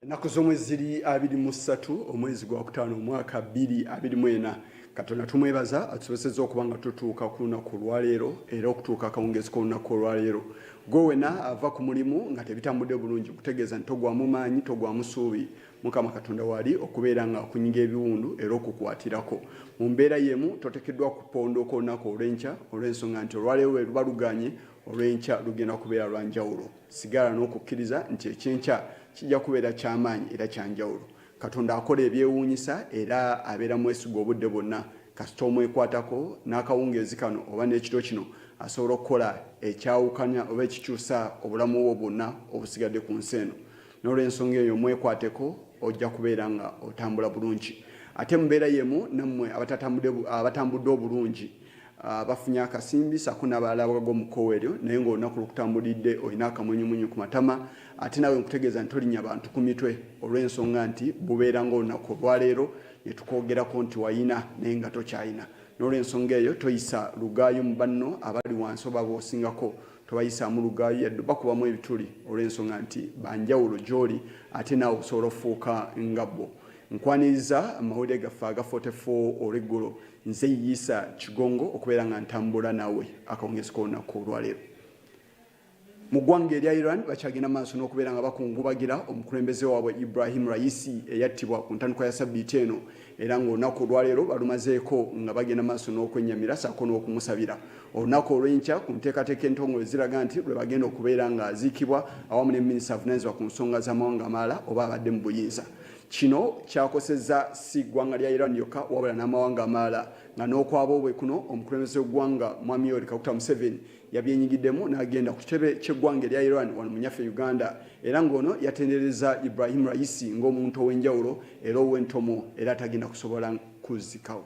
ennaku z'omwezi ziri abiri mu ssatu omwezi gwa kutaano omwaka bbiri abiri mu ena katonda tumwebaza atusobosezza okuba nga tutuuka ku lunaku olwaleero era okutuuka akawungeezi k'olunaku olwaleero gwe wena ava ku mulimu nga tebitambudde bulungi kutegeeza nti togwamu maanyi togwamu suubi Mukama Katonda wali okubeera nga akunyiga ebiwundu era okukwatirako. Mu mbeera yemu totekeddwa kupondooka olunaku olw'enkya olw'ensonga nti olwaleero lwe luba luganye olw'enkya lugenda kubeera lwa njawulo. Sigala n'okukkiriza nti eky'enkya kijja kubeera ky'amaanyi era kya njawulo. Katonda akola ebyewuunyisa era abeera mwesigwa obudde bwonna. Kasita omwekwatako, n'akawungeezi kano oba n'ekiro kino asobola okukola ekyawukanya oba ekikyusa obulamu bwo bwonna obusigadde ku nsi eno. N'olwensonga eyo mwekwateko ojja kubeera nga otambula bulungi. Ate mubeera yemu nammwe abatambudde obulungi ah, bafunye akasimbi sako nabalala abagaga omukowa eryo naye ngaolunaku lukutambulidde olina akamunyumunyu ku matama ate nawe nkutegeeza nti tolinya bantu ku mitwe olw'ensonga nti bubeera ngaolunaku olwaleero netukogerako nti wayina naye nga tokyayina n'olw'ensonga eyo toyisa lugaayo mu banno abali wansi oba bosingako tobayisaamu lugaayu yadde bakubamu ebituli olw'ensonga nti banjawulo gy'oli ate naawe okusobola okufuuka nga bo nkwaniriza amawulire gaffe aga 44 olweggulo nze yiisa kigongo okubeera nga ntambula naawe akawungezi k'olunaku olwaleero mu ggwanga erya iran bakyagenda maaso n'okubeera nga bakungubagira omukulembeze waabwe ibrahim raisi eyattibwa ku ntandikwa ya sabbiiti eno era ng'olunaku olwaleero balumazeeko nga bagenda maaso n'okwennyamira saako n'okumusabira olunaku olw'enkya ku nteekateeka entongole ziraga nti lwe bagenda okubeera ng'aziikibwa awamu ne minisita avunaanyizibwa ku nsonga z'amawanga amalala oba abadde mu buyinza kino kyakosezza si ggwanga lya iran yokka wabula n'amawanga amalala nga n'okwabo bwe kuno omukulembeze w'eggwanga mwami yoweri kaguta museveni yabyenyigiddemu n'agenda ku kitebe ky'eggwanga erya iran wano mu nyaffe uganda era ng'ono yatendereza Ibrahim Raisi ng'omuntu ow'enjawulo era ow'entomo era atagenda kusobola kuzzikawo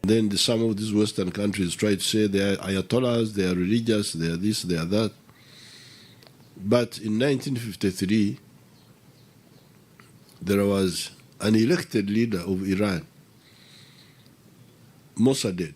Then the, some of these Western countries try to say they are Ayatollahs, they are religious, they are this, they are that. But in 1953, there was an elected leader of Iran, Mossadegh,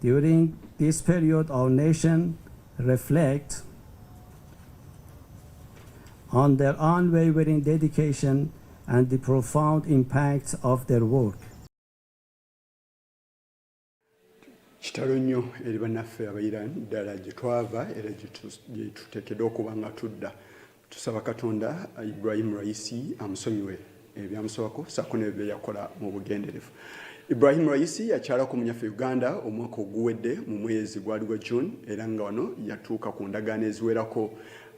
During this period, our nation reflects on their unwavering dedication and the profound impact of their work. kitalo nnyo eri bannaffe abaira ddala gye twava era gye tuteekeddwa okuba nga tudda Tusaba Katonda Ibrahim Raisi amusonyiwe ebyamusabako saako nebyo byeyakola mu bugenderevu. Ibrahim Raisi yakyalako munyaffe Uganda omwaka oguwedde mu mwezi gwali gwa June era nga wano yatuuka ku ndagaano eziwerako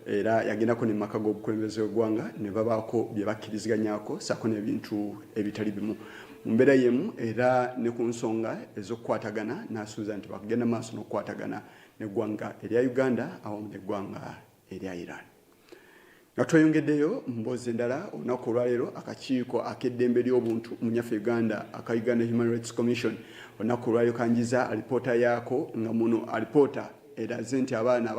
era yagendako ne maka g'obukulembeze w'eggwanga ne babaako bye bakkiriziganyako saako n'ebintu ebitali bimu mu mbeera yemu era ne ku nsonga ez'okukwatagana n'asuubiza nti bakugenda maaso n'okukwatagana n'eggwanga erya Uganda awamu n'eggwanga erya Iran. Nga tweyongeddeyo mu mboozi endala olunaku olwaleero akakiiko ak'eddembe ly'obuntu mu nyaffe Uganda aka Uganda Human Rights Commission olunaku olwaleero kanjiza alipoota yaako nga muno alipoota eraze nti abaana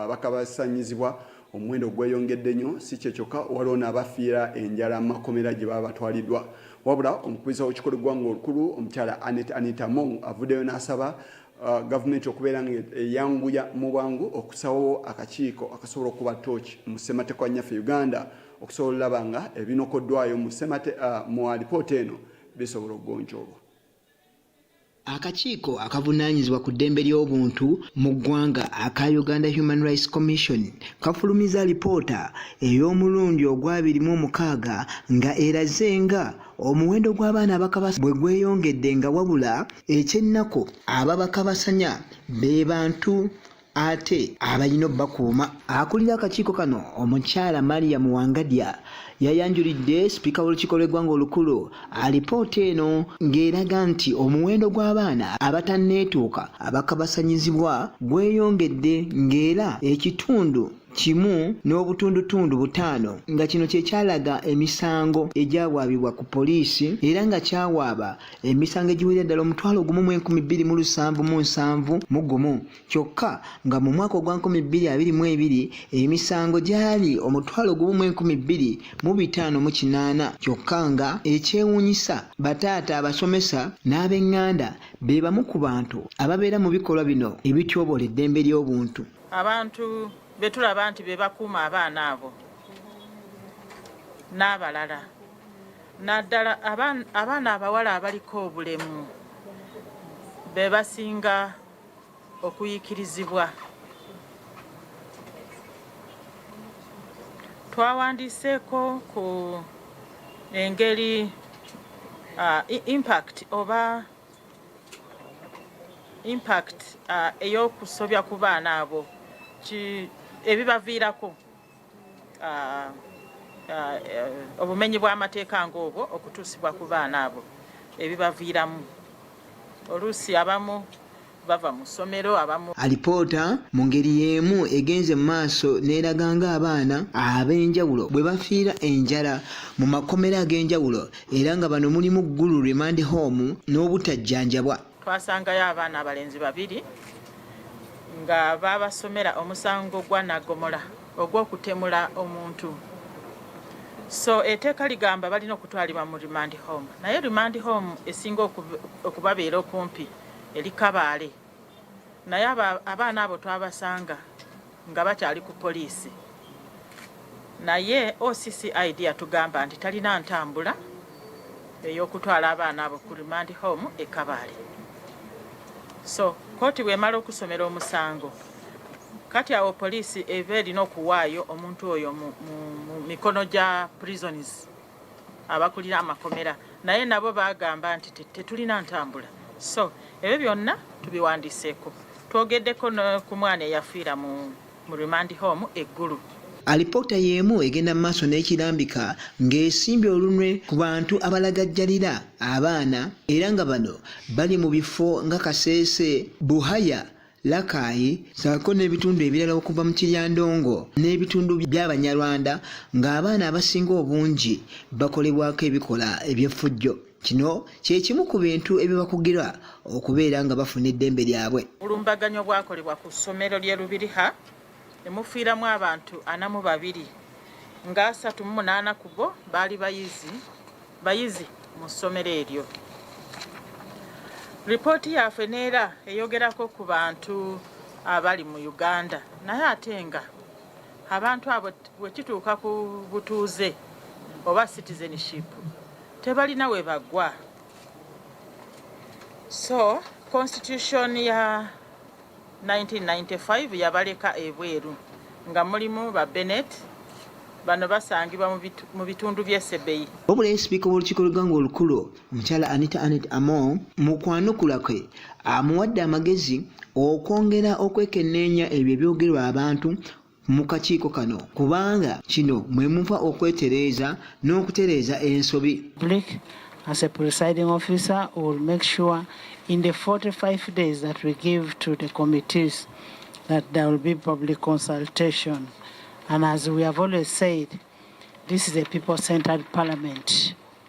abakabasanyizibwa omuwendo gweyongedde nnyo si kye kyokka waliwo n'abafiira enjala mu makomera gye baba batwaliddwa wabula omukubiriza w'ekikolo eggwanga olukulu omukyala anet anita mong avuddeyo n'asaba Uh, gavumenti okubeera nga eyanguya mu bwangu okusawo akakiiko akasobola okuba tooki mu ssemateeka nyaffe uganda okusobola olaba nga ebinokoddwayo mu uh, alipoota eno bisobola okugonjoolwa akakiiko akavunaanyizibwa ku ddembe ly'obuntu mu ggwanga aka uganda human rights commission kafulumiza lipoota ey'omulundi ogwabiri mu omukaaga nga eraze nga omuwendo gw'abaana abakabasa bwe gweyongedde nga wabula ekyennaku ababakabasanya be bantu ate abalina obubakuuma akulira akakiiko kano omukyala maria muwangadya yayanjulidde sipiika w'olukiiko lw'eggwanga olukulu alipoota eno ng'eraga nti omuwendo gw'abaana abatanneetuuka abakabasanyizibwa gweyongedde ng'era ekitundu kimu n'obutundutundu butaano nga kino kye kyalaga emisango egyawaabibwa ku poliisi era nga kyawaaba emisango egiwera ddala omutwalo gumu mu enkumi bbiri mu lusanvu mu nsanvu mu gumu kyokka nga mu mwaka ogwa nkumi bbiri abiri mu ebiri emisango gyali omutwalo gumu mu enkumi bbiri mu bitaano mu kinaana kyokka nga ekyewuunyisa bataata abasomesa n'ab'eŋŋanda be bamu ku bantu ababeera mu bikolwa bino ebityobola eddembe ly'obuntu abantu betulaba nti bebakuuma abaana abo n'abalala naddala abaana abawala abaliko obulemu be basinga okuyikirizibwa twawandiiseeko ku engeri uh, impact oba impact uh, eyokusobya ku baana abo ebibaviirako uh, uh, obumenyi bw'amateeka ng'obwo okutuusibwa ku baana abo ebibaviiramu oluusi abamu bava mu ssomero abamu alipoota mu ngeri y'emu egenze mu maaso n'eraga ng'abaana ab'enjawulo bwe bafiira enjala mu makomera ag'enjawulo era nga bano mulimu ggulu remand home n'obutajjanjabwa twasangayo abaana abalenzi babiri nga babasomera omusango gwa nagomola ogw'okutemula omuntu so eteeka ligamba balina okutwalibwa mu remand home naye remand home esinga okubabeera okumpi eri Kabaale naye abaana abo twabasanga nga bakyali ku poliisi naye OCCID yatugamba nti talina ntambula ey'okutwala abaana abo ku remand home e Kabaale so kkooti bw'emala okusomera omusango kati awo poliisi eva erina okuwaayo omuntu oyo mu mikono gya prisons abakulira amakomera naye nabo bagamba nti tetulina ntambula so ebyo byonna tubiwandiseeko twogeddeko ku mwana eyafiira mu mu remand home eggulu alipoota y'emu egenda mu maaso n'ekirambika ng'esimbye olunwe ku bantu abalagajjalira abaana era nga bano bali mu bifo nga kaseese buhaya Lakaayi saako n'ebitundu ebirala okuva mu Kiryandongo n'ebitundu by'Abanyarwanda ng'abaana abasinga obungi bakolebwako ebikola eby'effujjo. Kino kye kimu ku bintu ebibakugira okubeera nga bafuna eddembe lyabwe. Obulumbaganyi obwakolebwa ku ssomero ly'e Lubiriha ne mufiiramu abantu ana mu babiri ng'asatu mu munaana ku bo baali bayizi bayizi mu ssomero eryo. Lipooti yaffe neera eyogerako ku bantu abali mu Uganda naye ate nga abantu abo wekituuka ku butuuze oba citizenship tebalina we bagwa so constitution ya 1995 yabaleka ebweru nga mulimu ba Bennett bano basangibwa mu bitundu by'e Sebei. Wabula ye sipiika w'olukiiko lw'eggwanga olukulu omukyala Anita Annet Among mu kwanukula kwe amuwadde amagezi okwongera okwekenneenya ebyo ebyogerwa abantu mu kakiiko kano kubanga kino mwe muva okwetereeza n'okutereeza ensobi As a presiding officer, we will make sure in the 45 days that we give to the committees that there will be public consultation. And as we have always said, this is a people-centered parliament.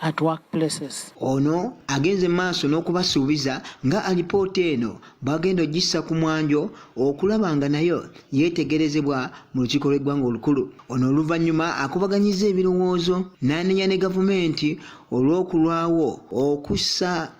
at workplaces. Ono agenze maaso n'okubasuubiza nga alipoota eno bagenda ogissa ku mwanjo okulaba nga nayo yeetegerezebwa mu lukiiko lw'eggwanga olukulu. Ono oluvannyuma akubaganyizza ebirowoozo n'anenya ne gavumenti olw'okulwawo okussa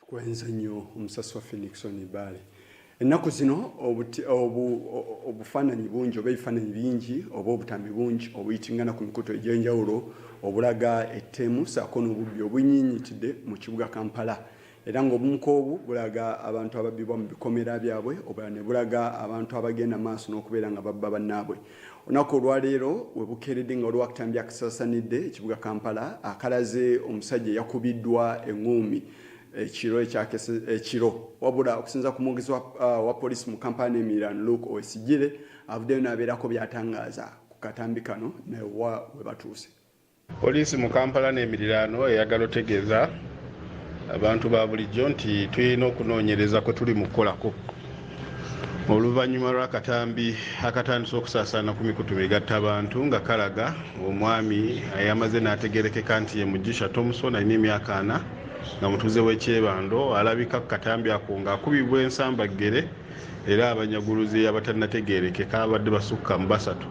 Tukwenze nnyo omusasi waffe Nixon Ibale. Ennaku zino obufaananyi bungi oba ebifaananyi bingi oba obutambi bungi obuyitingana ku mikutu egy'enjawulo obulaga ettemu saako n'obubbi obunyinyitidde mu kibuga Kampala era ng'obumu k'obu bulaga abantu ababbibwa mu bikomera byabwe obulala ne bulaga abantu abagenda maaso n'okubeera nga babba bannaabwe. Olunaku olwaleero we bukeeredde nga waliwo akatambi akasaasanidde ekibuga Kampala akalaze omusajja eyakubiddwa eng'uumi ekiro ekyakese ekiro wabula okusinza ku mwogezi wa, uh, wa poliisi mu Kampala n'emiriraano Luke Owesigire avuddeyo n'abeerako by'atangaaza ku katambi kano naye wa we batuuse. Poliisi mu Kampala n'emiriraano eyagala otegeeza abantu ba bulijjo nti tulina okunoonyereza kwe tuli mu kukolako oluvannyuma lw'akatambi akatandise okusaasaana ku mikutu migatta abantu nga kalaga omwami ayamaze n'ategerekeka nti ye mujisha Thompson alina emyaka ana nga mutuuze w'ekyebando alabika ku katambi ako ng'akubibwa ensambaggere era abanyaguluzi abatannategeerekeka abadde basukka mu basatu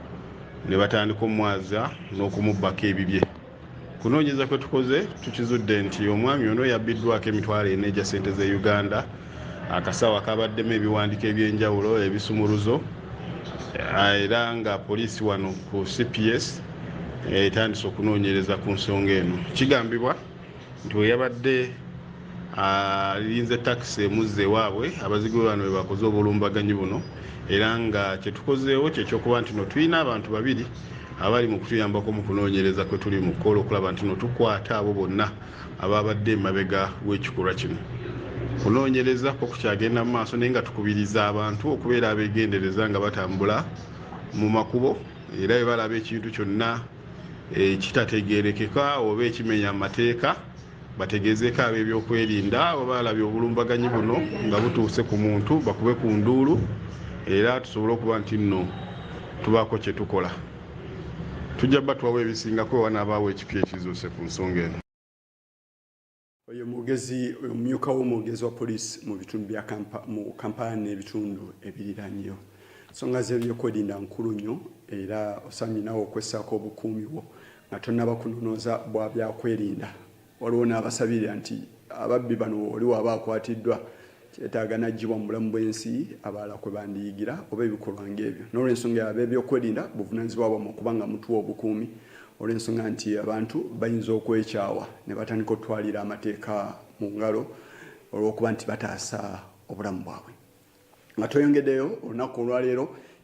ne batandika omwaza n'okumubbako ebibye kunoonyeza kwe tukoze tukizudde nti omwami ono yabbiddwako emitwalo ena egya ssente z'e uganda akasawo akabaddemu ebiwandiiko eby'enjawulo ebisumuluzo ah, era nga poliisi wano ku cps etandise okunoonyereza ku nsonga eno kigambibwa nti bwe yabadde alinze takisi emuzza ewaabwe abazigu be bano bwe bakoze obulumbaganyi buno era nga kye tukozeewo kye kyokuba nti no tulina abantu babiri abali mu kutuyambako mu kunoonyereza kwe tuli mu kukola okulaba nti no tukwata abo bonna abaabadde emabega w'ekikolwa kino kunoonyereza kwo kukyagenda mu maaso naye nga tukubiriza abantu okubeera abeegendereza nga batambula mu makubo era bwe balaba ekintu kyonna ekitategeerekeka oba ekimenya amateeka bategeezeeko ab'ebyokwerinda oba alabye obulumbaganyi buno nga butuuse ku muntu bakube ku nduulu era tusobole okuba nti nno tubaako kye tukola tujja batwawo ebisingako oba n'abaawo ekipya ekizuuse ku nsonga eno Oyo mwogezi omumyuka w'omwogezi wa poliisi mu bitundu bya mu Kampala n'ebitundu ebiriranyeyo. Ensonga z'ebyokwerinda nkulu nnyo era osaanye naawe okwessaako obukuumi bwo nga tonnaba kunonooza bwa byakwerinda. Waliwo n'abasabirira nti ababbi bano oli waba akwatiddwa kyetaaga n'aggyibwa mu bulamu bw'ensi abalala kwe bandiyigira oba ebikolwa ng'ebyo. N'olw'ensonga eyo, abeebyokwerinda buvunaanyizibwa bwammwe okuba nga mutuwa obukuumi olw'ensonga nti abantu bayinza okwekyawa ne batandika okutwalira amateeka mu ngalo olw'okuba nti bataasa obulamu bwabwe. Nga tweyongeddeyo, olunaku olwaleero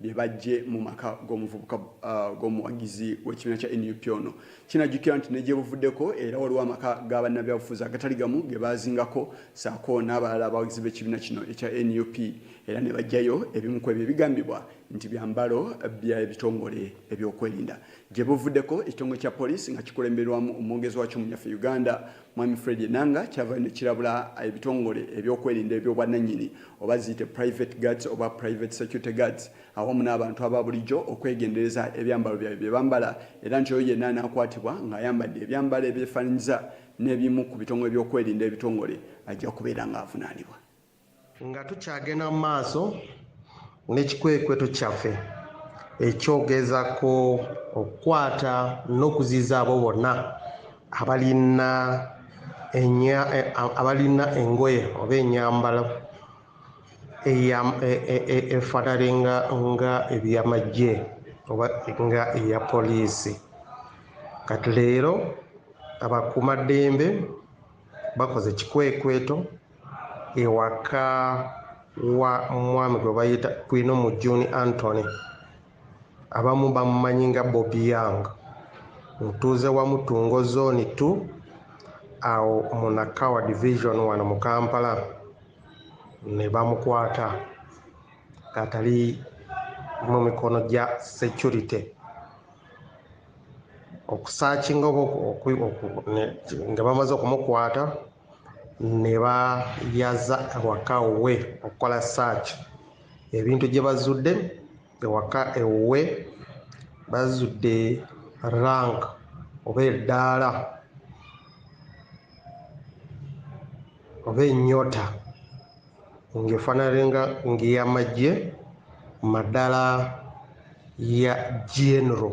bye bajje mu maka g'omuvubuka uh, g'omuwagizi w'ekibiina kya nup ono kinajjukira nti ne gyebuvuddeko era waliwo amaka ga bannabyabufuzi agatali gamu ge baazingako saako n'abalala abawagizi b'ekibiina kino ekya nup era ne bajjayo ebimu ku ebyo ebigambibwa nti byambalo by'ebitongole ebyokwerinda gye buvuddeko ekitongole kya poliisi nga kikulemberwamu omwogezi wakyo mu nyaffe uganda Mwami Fred Enanga kyava ne kirabula ebitongole ebyokwerinda eby'obwannannyini oba ziyite private guards oba private security guards awamu n'abantu aba bulijjo okwegendereza ebyambalo byabwe bye bambala era nti oyo yenna anaakwatibwa ng'ayambadde ebyambalo ebyefaananyiza n'ebimu ku bitongole by'okwerinda ebitongole ajja kubeera ng'avunaanibwa. Nga tukyagenda mu maaso n'ekikwekweto kyaffe ekyogeza ku okukwata n'okuziiza abo bonna abalina abalina engoye oba enyambala efaanane nga ebyamagye oba nga eya poliisi kati leero abakuumaddembe bakoze ekikwekweto ewaka wa mwami gwe bayita kwino mu juni antony abamu bamumanyi nga bobi young mutuuze wa mutungo zoni t awo munakawa division wano mu kampala ne bamukwata atali mu mikono gya security okusakinga nga bamaze okumukwata ne bayaza awaka we okukola search ebintu gye bazudde ewaka ewuwe bazudde rank oba eddaala oba enyota ng'efaanalenga ng'eyamagye maddala ya genero.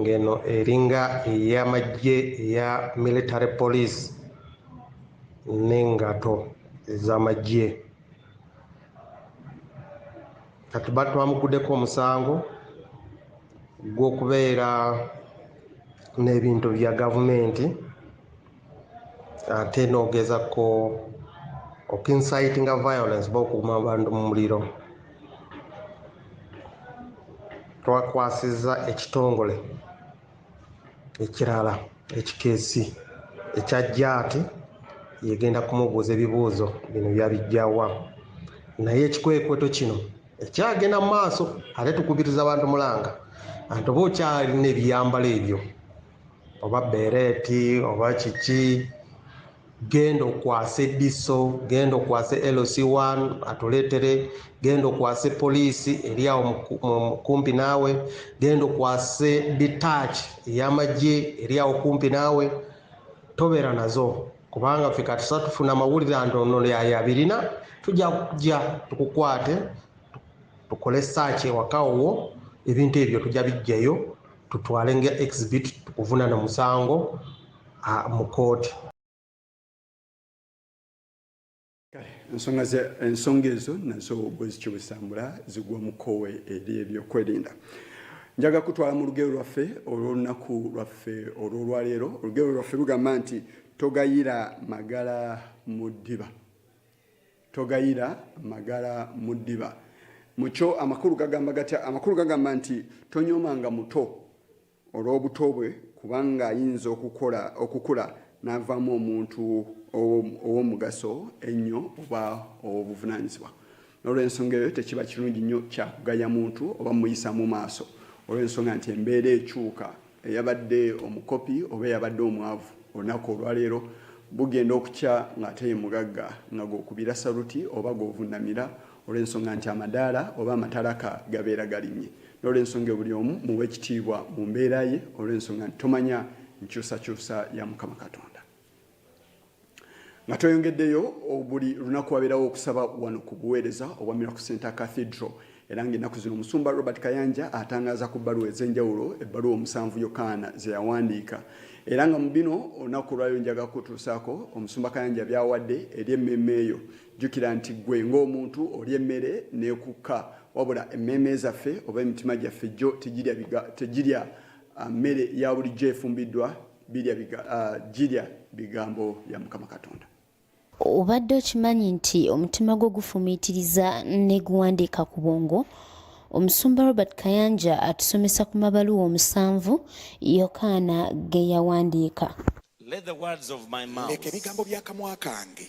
ng'eno eringa ey'amagye eya military police n'engato ez'amagye kati batwamuguddeko omusango gw'okubeera n'ebintu bya gavumenti ate nogeza ko okincitinga violence ba okuuma abantu mu muliro twakwasiza ekitongole ekirala ekikeesi ekya jaati yegenda kumubuuza ebibuuzo bino byabijjawa naye ekikwekweto kino ekyagenda mu maaso ate tukubiriza abantu mulanga anti oba okyalina ebiyambalo ebyo oba bereeti oba kiki genda okwase diso genda okwase lc1 atuleetere genda okwase poliisi eri awo kumpi naawe genda okwase detach eyamagye eri awo kumpi naawe tobeera nazo kubanga fe katusa tufuna amawulire anti ono yaye abirina tujja kujja tukukwate tukole saaki ewaka wwo ebintu ebyo tujja bijjayo tutwale nga exhibit tukuvunana musango mu kooti ensonga ensonga ezo nazo bwezikyobwezitambula zigwa mukowe eri ebyokwerinda njaga kutwala mu lugero lwaffe olwolunaku lwaffe olwolwaleero olugero lwaffe lugamba nti togayira magala mu ddiba togayira magala mu ddiba mukyo amakulu gagamba gatya amakulu gagamba nti tonyooma nga muto olw'obuto bwe kubanga ayinza okukola okukula n'avaamu omuntu ow'omugaso ennyo oba ow'obuvunaanyizibwa n'olwensonga eyo tekiba kirungi nnyo kyakugaya muntu oba muyisa mu maaso olw'ensonga nti embeera ekyuka Eyabadde omukopi oba eyabadde omwavu olunaku olwaleero bugenda okukya ng'ate ye mugagga nga gw'okubira saluti oba gw'ovunnamira olw'ensonga nti amadaala oba amatalaka gabeera galinnye n'olw'ensonga eyo buli omu muwe ekitiibwa mu mbeera ye olw'ensonga nti tomanya nkyusakyusa ya Mukama Katonda. nga tweyongeddeyo buli lunaku wabeerawo okusaba wano ku buweereza obwa miracle center cathedral era ng'ennaku zino omusumba robert kayanja atangaaza ku bbaluwa ez'enjawulo ebbaluwa omusanvu yokaana ze yawandiika era nga mu bino olunaku olwayo njaga kutuusaako omusumba kayanja byawadde eri emmeeme eyo jjukira nti ggwe ng'omuntu oli emmere n'ekukka wabula emmeeme zaffe oba emitima gyaffe jjo tegirya ah, mmere ya bulijjo efumbiddwa birya biga, uh, girya bigambo bya mukama katonda obadde okimanyi nti omutima gwo gufumiitiriza ne guwandiika ku bwongo omusumba robert kayanja atusomesa ku mabaluwa omusanvu yokaana ge yawandiika leka ebigambo by'akamwa kange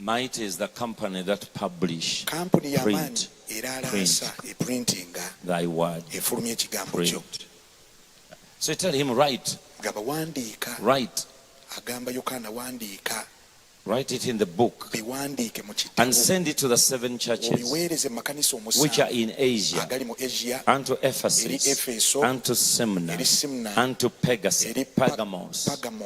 Might is the company that publish, kampuni y'amaanyi era alaasa eprintinga efulumya ekigambo kyo so tell him right gaba wandiika right agamba yokaana wandiika Write it in the book and send it to the seven churches which are in Asia, and to Ephesus, and to Semna, and to Pegasus, Pergamos.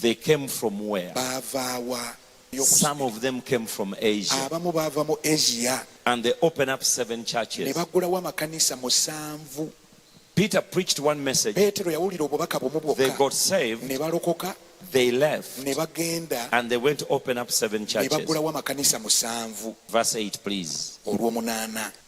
They came from where? Bavaawa. Some of them came from Asia. Abamu bava mu Asia. And they open up seven churches. Ne baggulawo amakanisa musanvu. Peter preached one message. Petero yawulira obubaka bumu bwokka. They got saved. Ne balokoka. They left. Ne bagenda. And they went to open up seven churches. Ne baggulawo amakanisa musanvu. Verse 8 please. Olw'omunaana.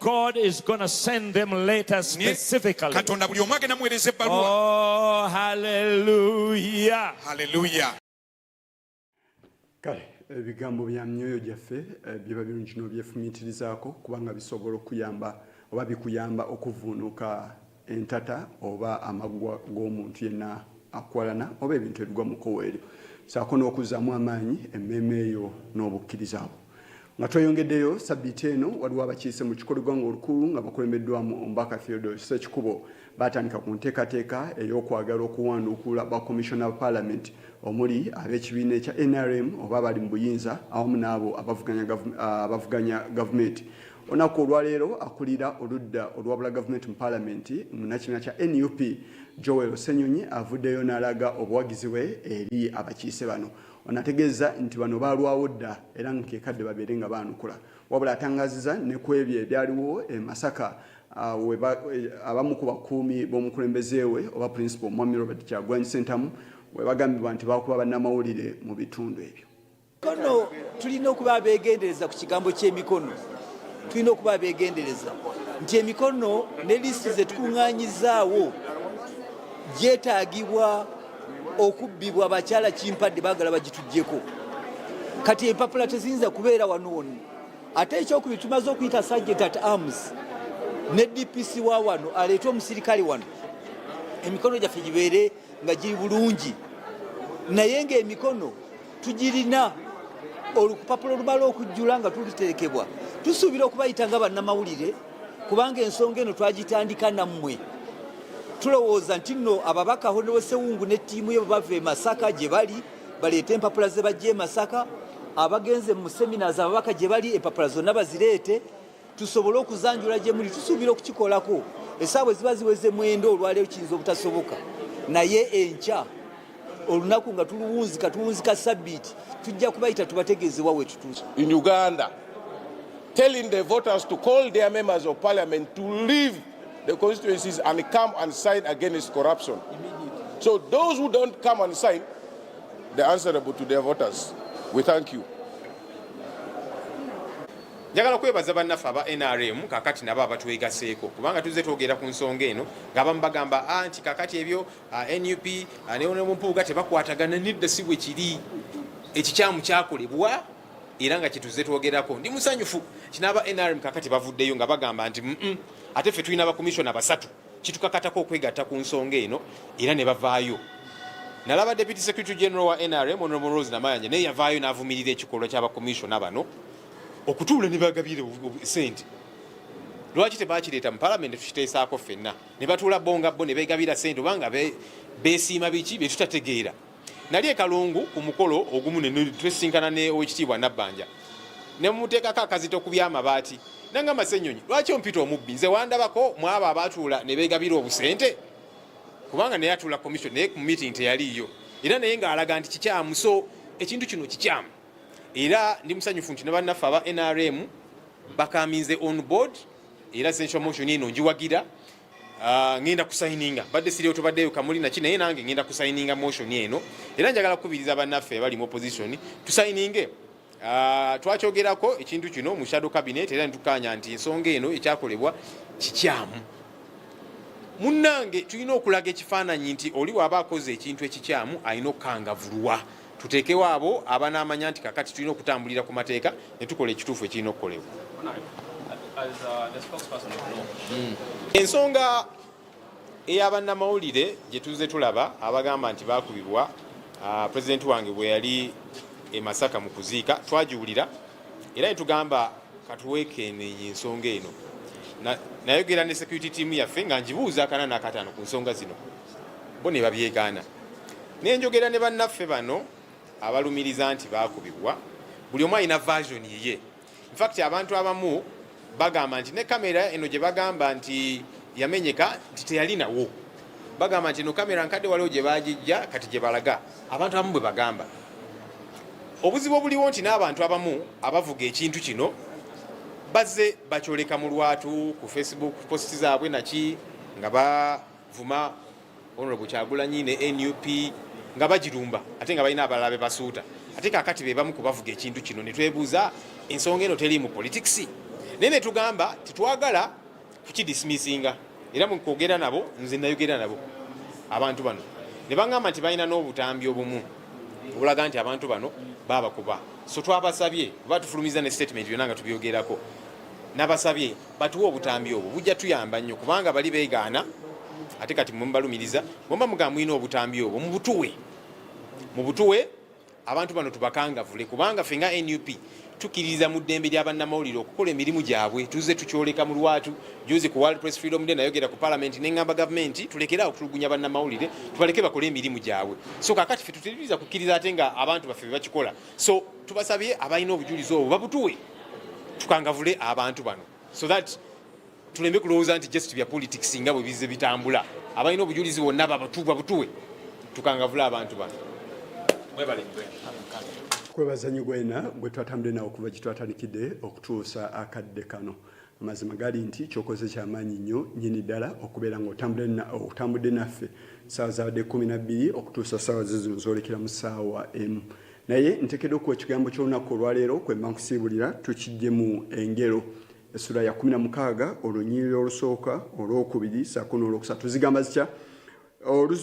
God is going to send them letters specifically. Katonda buli omu agenda muweereza ebbaluwa. Oh, hallelujah. Hallelujah. Kale ebigambo bya myoyo gyaffe eh, biba birungi n'obyefumiitirizaako kubanga bisobola okuyamba oba bikuyamba okuvuunuka entata oba amaggwa g'omuntu yenna akwalana oba ebintu ebigwa mu kkowa eryo saako n'okuzzaamu amaanyi emmeeme eyo n'obukkiriza bwo nga tweyongeddeyo sabbiiti eno waliwo abakiise mu kikolo gwanga olukulu nga bakulembeddwamu omubaka theodore sekikubo baatandika ku nteekateeka ey'okwagala okuwanduukula bakomishona ba paalamenti omuli ab'ekibiina ekya nrm oba abali mu buyinza awamu n'abo abavuganya gavumenti Olunaku olwaleero akulira oludda olwabula gavumenti mu palamenti munakibiina kya nup Joel Senyonyi avuddeyo n'alaga obuwagizi bwe eri abakiise bano. Ono ategeeza nti bano baalwawo dda era nga kekadde babeere nga baanukula. Wabula atangaziza ne ku ebyo ebyaliwo e Masaka ah, eh, abamu ku bakuumi b'omukulembeze we oba principal Mwami Robert Kyagulanyi Ssentamu we bagambibwa nti baakuba bannamawulire mu bitundu ebyo. kono tulina okuba abegendereza ku kigambo ky'emikono tulina okuba abegendereza nti emikono ne lisiti zetukuŋŋanyizaawo gyetaagibwa okubbibwa bakyala kimpadde bagala bagitugyeko kati empapula teziyinza kubeera wano wonna ate ekyokubiri tumaze okuyita sajent at arms ne dpc wa wano aleete omusirikale wano emikono gyaffe gibeere nga giri bulungi naye ngaemikono tugirina olupapula olumala okujjula nga tuliteekebwa tusuubira okubayita nga bannamawulire kubanga ensonga eno twagitandika nammwe tulowooza nti nno ababaka honewesewungu ne ttiimu ye bwebava e masaka gye bali baleete empapula ze bajja e masaka abagenze mu seminars ababaka gye bali empapula zonna bazireete tusobole okuzanjula gye muli tusuubira okukikolako esaawa eziba ziweze mwenda olwaleero kiyinza obutasoboka naye enkya olunaku nga tuluwunzika tuwunzika sabbiiti tujja kubayita tubategeeze wa wetutuusa in uganda telling the voters to call their members of parliament to leave the constituencies and come and sign against corruption so those who don't come and sign they're answerable to their voters we thank you Njagala kwebaza bannaffe aba NRM kakati nabo abatwegaseeko kubanga tuzze twogera ku nsonga eno ng'abamu bagamba ah, nti kakati ebyo ah, nup ah, newonemumpuuga tebakwatagana nedda si bwe kiri ekikyamu kyakolebwa era nga kyetuzze twogerako ndi musanyufu kinaaba NRM kakati bavuddeyo nga bagamba nti ate ffe tulina bakomisiona basatu kitukakatako okwegatta ku nsonga eno era ne bavaayo nalaba deputy secretary general wa nrm honorable rose namayanja naye yavaayo n'avumirira ekikolwa ky'abakomisiona bano okutuula ne bagabira sente lwaki tebakireeta mu palamenti tukiteesaako ffenna ne batuula bo nga bo ne beegabira sente obanga besiima biki bye tutategeera nali ekalungu ku mukolo ogumu netwesinkana ne owekitiibwa nabbanja nemuteekako akazito ku byamabaati nangamba senyonyi lwaki ompita omubbi nze wandabako mwabo abatuula nebegabira obusente kubanga naye atuula commission naye ku meeting teyaliiyo era naye ngaalaga nti kikyamu so ekintu kino kikyamu era ndi musanyufu nti nebannaffe aba nrm bakaminze on board era central motion eno njiwagira Ah, ngenda kusayininga badde siri otubaddeyo kamuli naki naye nange ngenda kusayininga motion eno era njagala kukubiriza bannaffe abali mu opposition tusayininge ah, twakyogerako ekintu kino mu shadow cabinet era netukaanya nti ensonga eno ekyakolebwa kikyamu munnange tulina okulaga ekifaananyi nti oli waaba akoze ekintu ekikyamu alina okukangavulwa tuteekewo abo abanaamanya nti kakati tulina okutambulira ku mateeka ne tukola ekituufu ekirina okukolebwa hmm. ensonga eyabannamawulire gye tuzze tulaba abagamba nti baakubibwa ah, pulezidenti wange bwe yali e masaka mu kuziika twagiwulira era ne tugamba katuweekeenenye ensonga eno nayogera ne security team yaffe nga njibuuza akana nakatano ku nsonga zino bo ne babyegaana ne njogera ne bannaffe bano abalumiriza nti baakubibwa buli omu alina version yiye infact abantu abamu bagamba nti ne kamera eno gye bagamba nti yamenyeka nti teyalinawo bagamba nti eno kamera nkadde waliwo gye bagijja kati gye balaga abantu abamu bwe bagamba obuzibu obuliwo nti n'abantu abamu abavuga ekintu kino bazze bakyoleka mu lwatu ku facebook post zaabwe naki nga vuma honorable kyagulanyi ne nup nga bagirumba ate nga balina abalala bebasuuta ate kakati bebamu kubavuga ekintu kino netwebuuza ensonga eno teri mu politics naye netugamba tetwagala kukidismissinga era mukwogera nabo nze nayogera nabo abantu bano nebagamba nti balina n'obutambi obumu obulaga nti abantu bano babakuba so twabasabye oba tufulumiza ne statement byona nga tubyogerako nabasabye batuwa obutambi obwo bujja tuyamba nnyo kubanga bali beegaana ate kati mwemubalumiriza bwemba mugamba mulina obutambi obwo mubutuwe mubutuwe abantu bano tubakangavule kubanga fe nga nup tukiririza mu ddembe lya bannamawulire okukola emirimu gyabwe tuze tukyoleka mu lwatu juzi ku world press freedom day nayogera ku palamenti neŋamba gavumenti tulekere okutulugunya bannamawulire tubaleke bakole emirimu gyabwe so kakati fe tuteririza kukkiriza ate nga abantu baffe bebakikola so tubasabye abalina obujulizi obwo babutuwe tukangavule abantu bano so that tulembe kulowooza nti just bya politics nga bwe bize bitambula abalina obujulizi bwonna babatuwa butuwe tukangavule abantu bano kwebaza nyo gwena gwe twatambudde nawe okuva gye twatandikidde okutuusa akadde kano Amazima gali nti kyokoze kyamaanyi nnyo nyini ddala okubeera nga otambudde naffe saawa zabadde kumi nabbiri okutuusa saawa zizino zolekera mu saawa emu naye ntekedde okuwa ekigambo ky'olunaku olwaleero kwemba nkusiibulira tukijjemu engero essula ya kumi na mukaaga olunyiriri olusooka olwokubiri saako n'olwokusatu zigamba zitya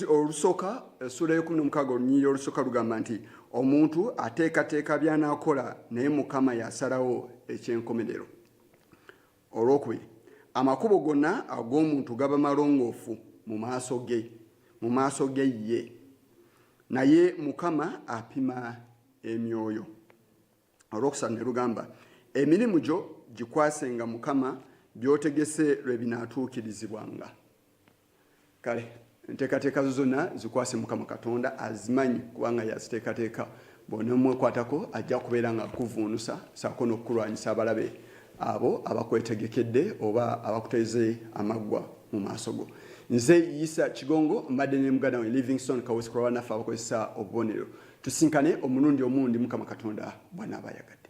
olusooka essula y'ekumi nomukaaga olunyiriri olusooka lugamba nti omuntu ateekateeka by'anaakola naye mukama yasalawo ekyenkomerero olwokubiri amakubo gonna ag'omuntu gaba malongoofu mu maaso ge mu maaso ge ye naye mukama apima emyoyo olwokusatu ne lugamba emirimu gyo gikwasenga mukama byotegese lwe binaatuukirizibwanga kale enteekateeka zo zonna zikwase mukama katonda azimanyi kubanga yaziteekateeka bwonomwekwatako ajja kubeera nga akuvuunusa saako n'okukulwanyisa abalabe abo abakwetegekedde oba abakuteze amaggwa mu maaso go nze yisa kigongo mbadde ne muganda we livingstone kawesikula banaffe abakozesa obubonero tusinkane omulundi omundi mukama katonda bwanaabayagadde